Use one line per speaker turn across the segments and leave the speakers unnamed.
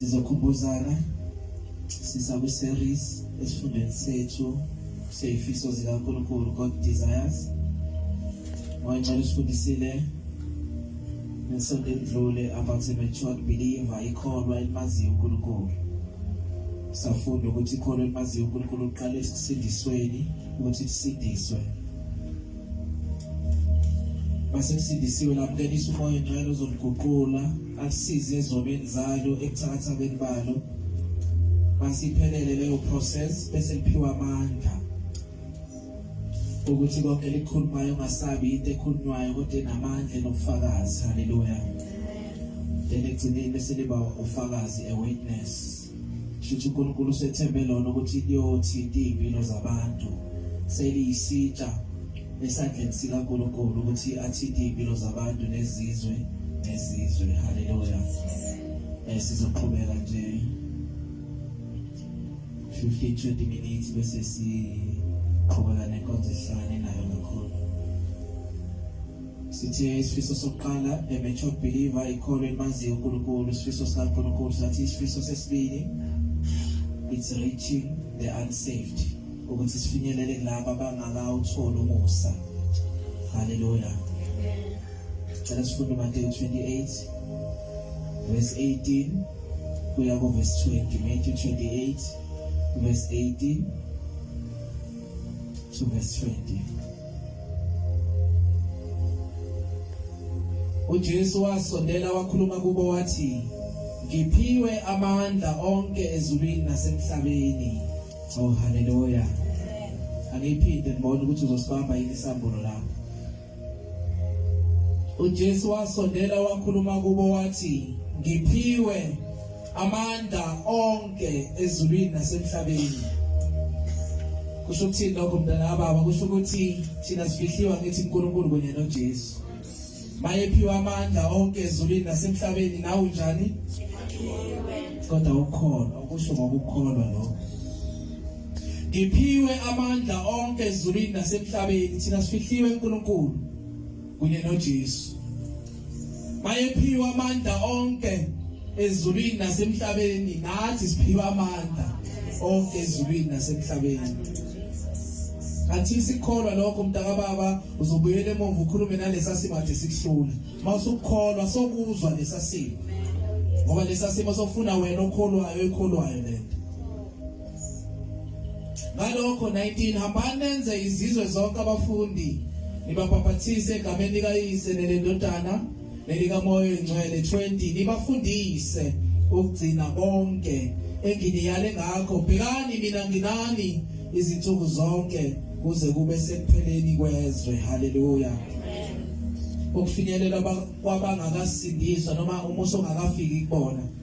sizokhumbuzana sisakwi-series esifundweni sethu seyifiso zikankulunkulu god desires moya ngicela usifundisile ngesonto endlule about a matured believer ikholwa elimaziyo unkulunkulu safunda ukuthi ikholwa elimaziyo unkulunkulu uqale ekusindisweni ukuthi kusindiswe masesindisiwe lamkelisa umoya ongcwele uzomguqula akusize ezonweni zalo ebuthakathakeni balo masiphelele leyo process bese liphiwa amandla ukuthi konke likhulumayo ungasabi into ekhulunywayo kodwa enamandla enobufakazi haleluya then ekugcineni bese liba ufakazi a witness Shuthi uNkulunkulu usethembe lona ukuthi liyothinta izimpilo zabantu. Seliyisitsha esandleni sika Nkulunkulu ukuthi athinte izimpilo zabantu nezizwe nezizwe. Haleluya. Eh sizoqhubeka nje 15 20 minutes bese siqhubeka nenkonzo ehlane nayo kakhulu. Sithe isifiso sokuqala eMetro Believer ikholo elimaziyo uNkulunkulu isifiso sikaNkulunkulu sathi isifiso sesibili it's reaching the unsaved ukuthi sifinyelele kulabo abangakawutholi umusa haleluya cela sifunde Mateyu 28 verse 18 kuya ku verse 20 Matthew 28 verse 18 to verse 20 uJesu wasondela wakhuluma kubo wathi ngiphiwe amandla onke ezulwini nasemhlabeni oh haleluya angiphinde ngibone ukuthi uzosibamba yini isambulo la uJesu wasondela wakhuluma kubo wathi ngiphiwe amandla onke ezulwini nasemhlabeni kusho ukuthini lokho mntana kababa kusho ukuthi thina sifihliwa ngithi uNkulunkulu kunye noJesu mayephiwa amandla onke ezulwini nasemhlabeni nawe unjani kodwa ukholwa ukusho ngokukholwa lokho ngiphiwe amandla onke ezulwini nasemhlabeni thina sifihliwe uNkulunkulu kunye noJesu. Bayephiwa amandla onke ezulwini nasemhlabeni nathi siphiwa amandla onke ezulwini nasemhlabeni. Athi sikholwa lokho mntaka baba uzobuyela emuva ukhulume nalesa simo ade sikuhlula. Mawusukholwa sokuzwa lesa simo. Ngoba lesa simo sofuna wena okholwayo ekholwayo lento. ngalokho 19 hambani nenze izizwe zonke abafundi nibabhaphathise egameni likayise nelendodana nelikamoya oyingcwele 20 nibafundise ukugcina konke enginiyale ngakho bhekani mina nginani izinsuku zonke kuze kube sekupheleni kwezwe haleluya ukufinyelela kwabangakasindiswa noma umuso ongakafiki kubona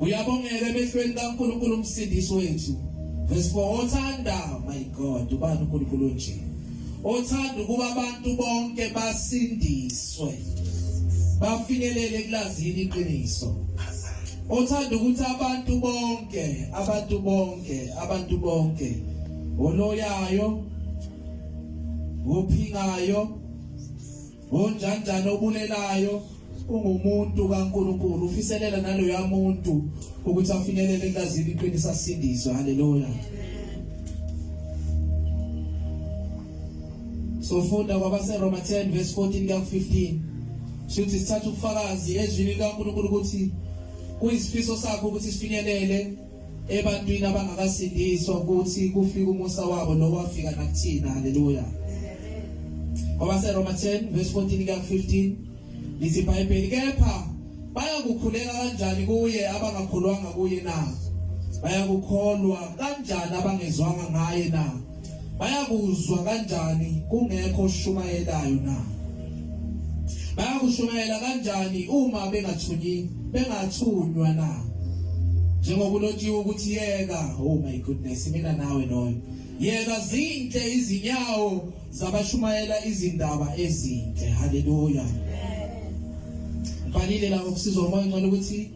uyabongela emehlweni kaNkulunkulu umsindisi wethu verse 4 othanda my god ubani uNkulunkulu onje othanda ukuba abantu bonke basindiswe bafinyelele kulazini iqiniso othanda ukuthi abantu bonke abantu bonke abantu bonke oloyayo ophingayo Unjanjani obulelayo ungumuntu kaNkulunkulu ufiselela naloya muntu ukuthi afinyelele ekulazini iqiniso asindiswe haleluya sofunda kwabaseroma 10 verse 14 kuya 15 sithi sithatha ubufakazi ezwini likaNkulunkulu ukuthi kuyisifiso sakho ukuthi sifinyelele ebantwini abangakasindiswa ukuthi kufika umusa wabo nowafika nakuthina haleluya ngoba seroma 10 verse 14 kuya 15 lithi ibhayibheli kepha bayakukhuleka kanjani kuye abangakhulwanga kuye na bayakukholwa kanjani abangezwanga ngaye na bayakuzwa kanjani kungekho oshumayelayo na bayakushumayela kanjani uma bengathunyi bengathunywa na njengokulotshiwe ukuthi yeka oh my goodness mina nawe noyo yeka zinhle izinyawo zabashumayela izindaba ezinhle haleluya fanele la ukusizwa umoya ngcono ukuthi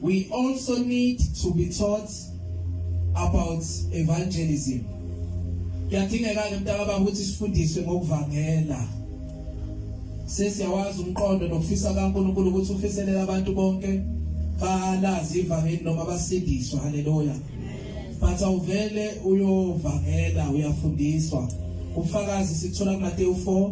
We also need to be taught about evangelism. Kuyadingeka ke mntakababa ukuthi sifundiswe ngokuvangela. Sesiyawazi umqondo nokufisa kaNkulunkulu ukuthi ufiselela abantu bonke balazi ivangeli noma basindiswa. Haleluya. But awuvele uyovangela uyafundiswa. Ufakazi sithola kuMateyu 4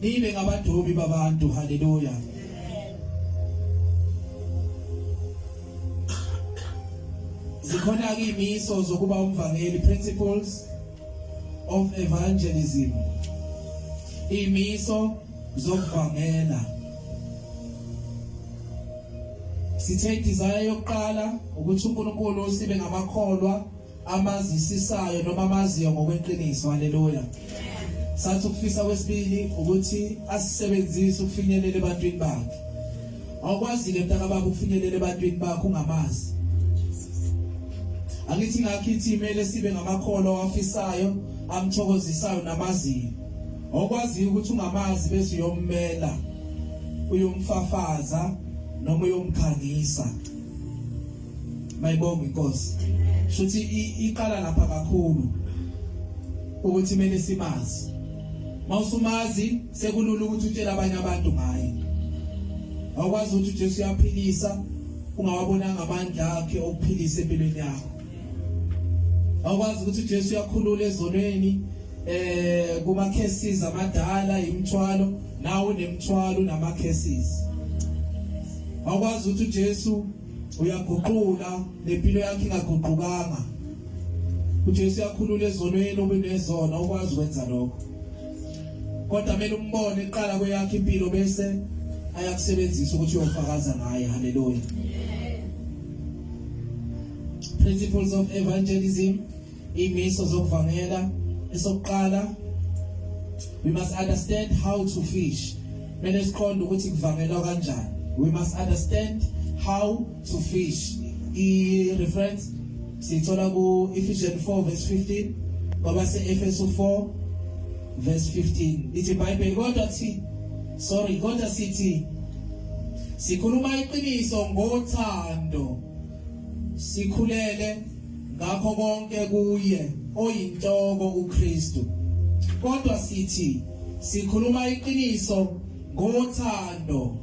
nibe ngabadobi babantu haleluya zikhona ke imiso zokuba umvangeli principles of evangelism imiso zokuvangela sithe desire yokuqala ukuthi uNkulunkulu sibe ngamakholwa abazisisayo noma abaziyo ngokweqiniso haleluya sathi ukufisa kwesibili ukuthi asisebenzise ukufinyelela ebantwini bakhe awukwazile mntaka baba ukufinyelela ebantwini bakho ungamazi angithi ngakho ithi kumele sibe ngamakholwa awafisayo amthokozisayo namaziyo okwaziyo ukuthi ungamazi bese uyommela uyomfafaza noma uyomkhangisa mayibonga inkosi shuthi iqala lapha kakhulu ukuthi mele simazi mawusumazi sekulula ukuthi utshele abanye abantu ngaye awukwazi ukuthi uJesu uyaphilisa ungawabonanga amandla akhe okuphilisa empilweni yakho awukwazi ukuthi uJesu uyakhulula ezonweni eh kuma cases amadala imthwalo nawo nemthwalo nama cases awukwazi ukuthi uJesu uyaguqula nempilo yakhe ingaguqukanga uJesu uyakhulula ezonweni obunezona ukwazi ukwenza lokho kodwa kumele umbone iqala kweyakhe impilo bese ayakusebenzisa ukuthi uyofakaza ngaye haleluya principles of evangelism Imiso zokuvangela esokuqala we must understand how to fish. Mele siqonde ukuthi kuvangelwa kanjani. We must understand how to fish. I reference sithola ku Ephesians 4 verse 15 ngoba se Efeso 4 verse 15 ithi Bible kodwa thi sorry kodwa sithi sikhuluma iqiniso ngothando sikhulele ngakho konke kuye oyinhloko uKristu kodwa sithi sikhuluma iqiniso ngothando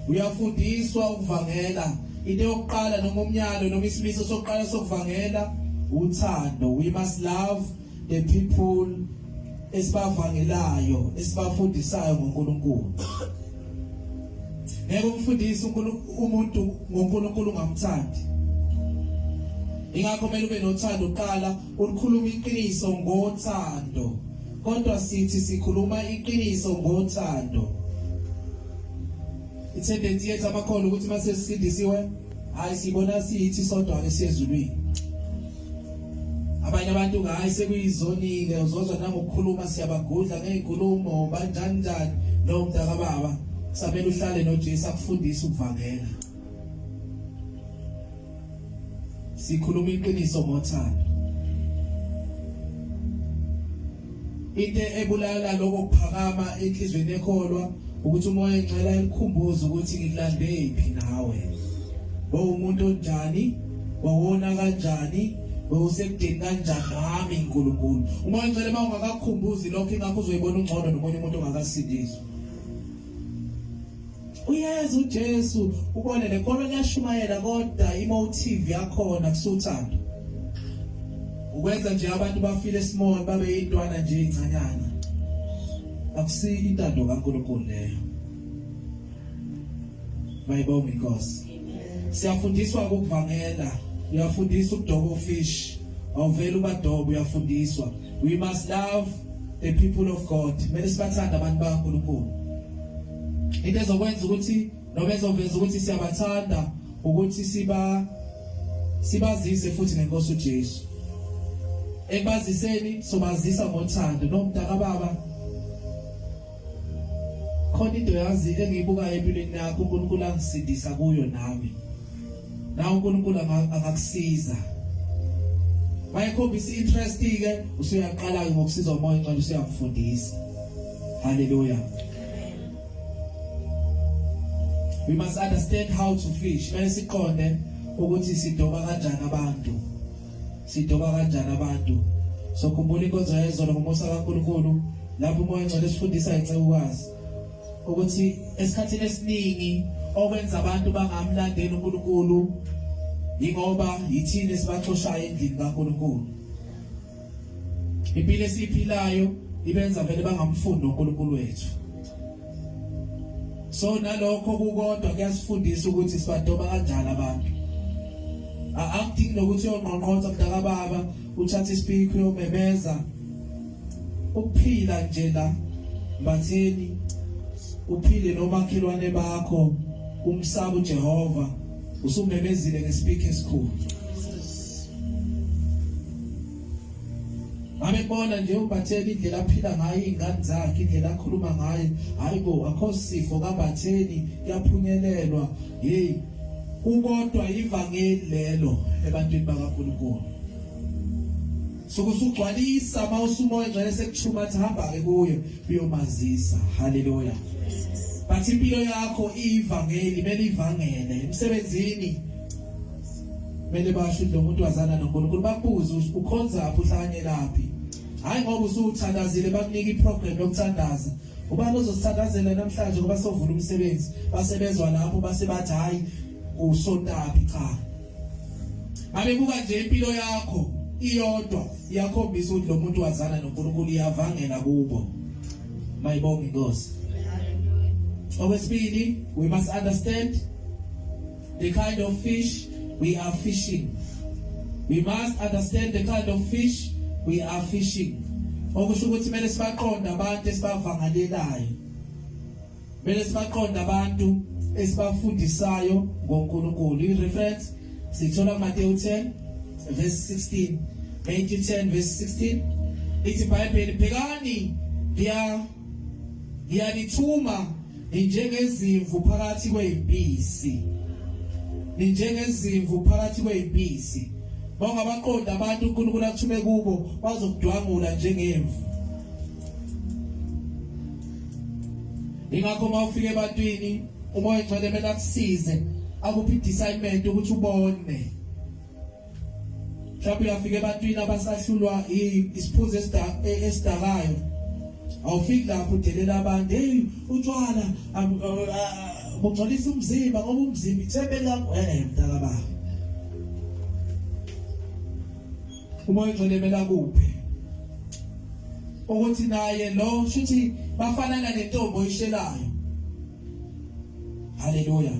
uyafundiswa ukuvangela into yokuqala noma umnyalo noma isimiso sokuqala sokuvangela uthando we must love the people esibavangelayo esibafundisayo ngoNkulunkulu ngeke umfundise umuntu ngoNkulunkulu ungamthandi ingakho kumele ube nothando uqala ulikhuluma iqiniso ngothando kodwa sithi sikhuluma iqiniso ngothando ithendensi yethu amakhono ukuthi uma sesisindisiwe hayi sibona siyithi sodwa esezulwini abanye abantu ngayi sekuyizonile uzozwa nangokukhuluma siyabagudla ngey'nkulumo banjani njani no mntaka baba samele uhlale nojesu akufundise ukuvangela sikhuluma iqiniso ngothando Into ebulala lokho kuphakama enhlizweni ekholwa ukuthi umoya engcela elikhumbuza ukuthi ngilande iphi nawe. Wawumuntu onjani? Wawona kanjani? Wawusekudeni kanjani nami uNkulunkulu? Umoya engcela uma ungakakhumbuzi lokho ingakho uzoyibona ungcono nomunye umuntu ongakasindiswa. uyezu Jesu ubone lenkolo liyashumayela kodwa imotive yakhona kusuthando ukwenza nje abantu bafile small babe yintwana nje incanyana akusi intando kaNkulunkulu leyo mayibonga inkosi siyafundiswa ukuvangela uyafundisa ukudoba ufish awuvela ubadoba uyafundiswa We must love the people of God. Kumele sibathande abantu bakaNkulunkulu. Into ezokwenza ukuthi noma ezoveza ukuthi siyabathanda ukuthi siba sibazise futhi ngenkosi uJesu. Ekubaziseni sobazisa ngothando nomntakababa khona into yazi engiyibukayo empilweni yakho uNkulunkulu angisindisa kuyo nami nawe uNkulunkulu angakusiza wayekhombisa interest ke usuyaqala ke ngokusiza umoya incane usuyamfundisa haleluya we must understand how to fish bese siqonde ukuthi sidoba kanjani abantu sidoba kanjani abantu sokhumbula inkonzo yayizolo ngomusa kaNkulunkulu lapho umoya ngcwele sifundisa incekukazi ukuthi esikhathini esiningi okwenza abantu bangamlandeli uNkulunkulu yingoba yithini esibaxoshayo endlini kaNkulunkulu impilo esiphilayo ibenza vele bangamfundi uNkulunkulu wethu so nalokho kukodwa kuyasifundisa ukuthi sibadoba kanjani abantu akudingi nokuthi uyonqonqonza mdaka baba uthatha isipikho uyomemeza ukuphila nje la bathini uphile nomakhelwane bakho umsaba uJehova usumemezile ngesipikho esikhulu Abebona nje uBatheni indlela aphila ngayo izingane zakhe indlela akhuluma ngayo hayibo akho sifo kaBatheni kuyaphunyelelwa hey ukodwa ivangeli lelo ebantwini bakaNkulunkulu sokusugcwalisa mawusumoya ngcwele sekuthuma athi hamba ke kuye uyomazisa haleluya bathi impilo yakho iyivangeli mele ivangele emsebenzini kumele basho ukuthi lo muntu wazana noNkulunkulu bakubuze ukuthi ukhonzaphi uhlanyelaphi hayi ngoba usuthandazile bakunika iprogram yokuthandaza ubani ozosithandazela namhlanje ngoba sovula umsebenzi basebezwa lapho base bathi hayi usontabi cha babebuka nje impilo yakho iyodwa iyakhombisa ukuthi lo muntu wazana noNkulunkulu iyavangela kubo mayibonge inkosi okwesibili we must understand the kind of fish we are fishing we must understand the kind of fish we are fishing okusho ukuthi kumele sibaqonde abantu esibavangalelayo kumele sibaqonde abantu esibafundisayo ngoNkulunkulu i reference sithola Mateyu 10 verse 16 Matthew 10 verse 16 ithi iBhayibheli bhekani ngiya ngiyanithuma ninjengezimvu phakathi kwezimpisi ninjengezimvu phakathi kwezimpisi bangabaqonda abantu uNkulunkulu athume kubo bazokudwangula njengemvu ingakho uma ufika ebantwini umoya ongcwele mele akusize akuphi discernment ukuthi ubone mhlawumbe uyafika ebantwini abasahlulwa isiphuzo e, esidakayo awufiki lapho udelela abantu hey utshwala bungcolisa umzimba ngoba umzimba ithembe lakho eh mntaka baba uma ugcinemela kuphi ukuthi naye lo shuthi bafanana nentombi oyishelayo haleluya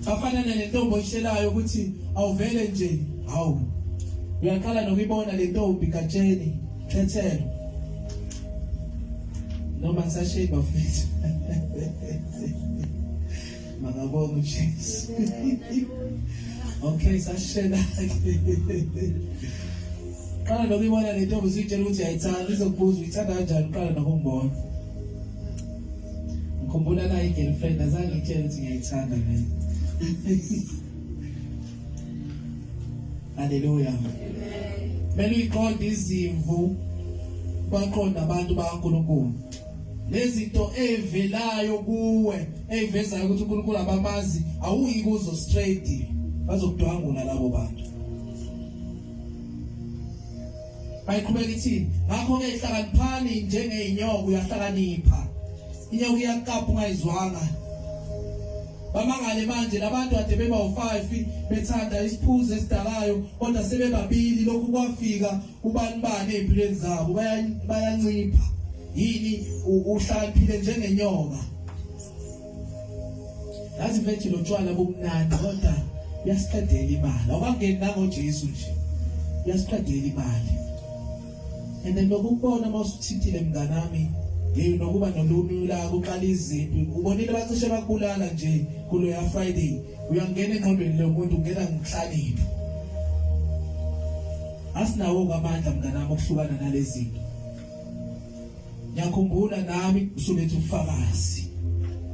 bafana nentombi oyishelayo ukuthi awuvele nje hawu uyaqala nokuyibona le ntombi katsheni khethelo noma ngisashiye bafethu makabonga ujesu okay sashela qala nokuyibona le ntombi usuyitshela ukuthi ayithandi izokubuza uyithanda kanjani uqala nokungibona ngikhumbula la i-girlfriend azange itshele ukuthi ngiyayithanda mina haleluya kumele uyiqonde izimvu baqonda abantu bakaNkulunkulu lezinto evelayo kuwe evezayo ukuthi uNkulunkulu abamazi awuyi kuzo straight bazokudwangula labo bantu bayiqhubeka ithi ngakho-ke hlakaniphani njengeyinyoka uyahlakanipha inyoka iyakukapha ungayizwanga bamangale manje labantu ade beba u5 bethanda isiphuzo esidalayo kodwa sebebabili lokhu kwafika ubani bani empilweni zabo bayancipha yini uhlakaniphile njengenyoka yazi mfethu lo tshwala bumnandi kodwa yasiqedela imali awangeni nangoJesu nje yasiqedela imali and then lokubona mawusithithile mnganami hey nokuba nolumula kuqala izimpi ubonile bacishe bakubulala nje kulo ya Friday uyangena enqondweni lomuntu ungena ngihlaliphi asinawo ngamandla mnganami okuhlukana nalezinto ngiyakhumbula nami usuletha ufakazi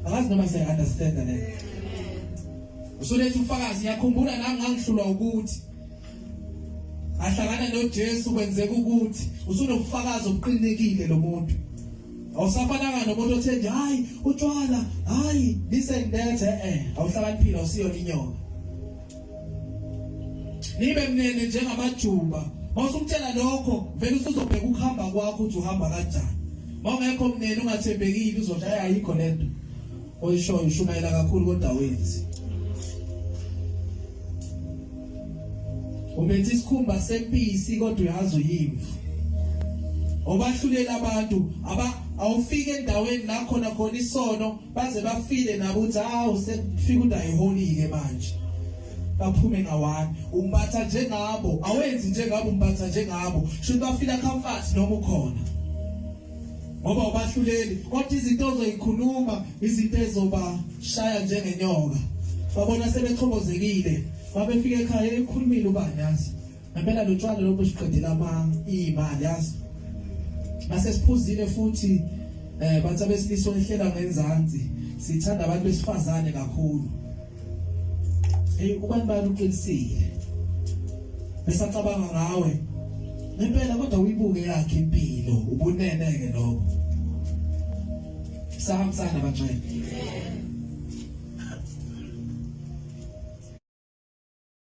akazi noma siya understand le usuletha ufakazi ngiyakhumbula nami ngangihlulwa ukuthi ahlangana noJesu kwenzeka ukuthi usunobufakazi obuqinekile lo muntu awusafananga nomuntu othe nje hayi utshwala hayi listen that eh, eh. awuhlakaniphile awusiyona inyoka nibe mnene njengamajuba mawusumtshela lokho vele usuzobheka ukuhamba kwakho ukuthi uhamba kanjani mawungekho mnene ungathembekile uzodla ayayikho lento oyishoyo ushumayela kakhulu kodwa wenzi ubenza isikhumba sempisi kodwa uyazi uyimvu obahlulela abantu aba awufike endaweni la khona khona isono baze bafile nabo ukuthi hawu sekufika udayiholike manje baphume ngawani umpatha njengabo awenzi njengabo umpatha njengabo shuthi bafila comfort noma ukhona ngoba ubahluleli kodwa izinto ozoyikhuluma izinto ezoba shaya njengenyoka babona sebechobozekile babefika ekhaya ekhulumile ubani yazi ngempela lotshwala lobu siqedela ama imali yazi base siphuzile futhi eh bathi abesilisa olihlela ngenzansi sithanda abantu besifazane kakhulu hey ubani bani uqinisile besacabanga ngawe ngempela kodwa uyibuke yakhe impilo ubunene ke lokho sahambisana bangcwele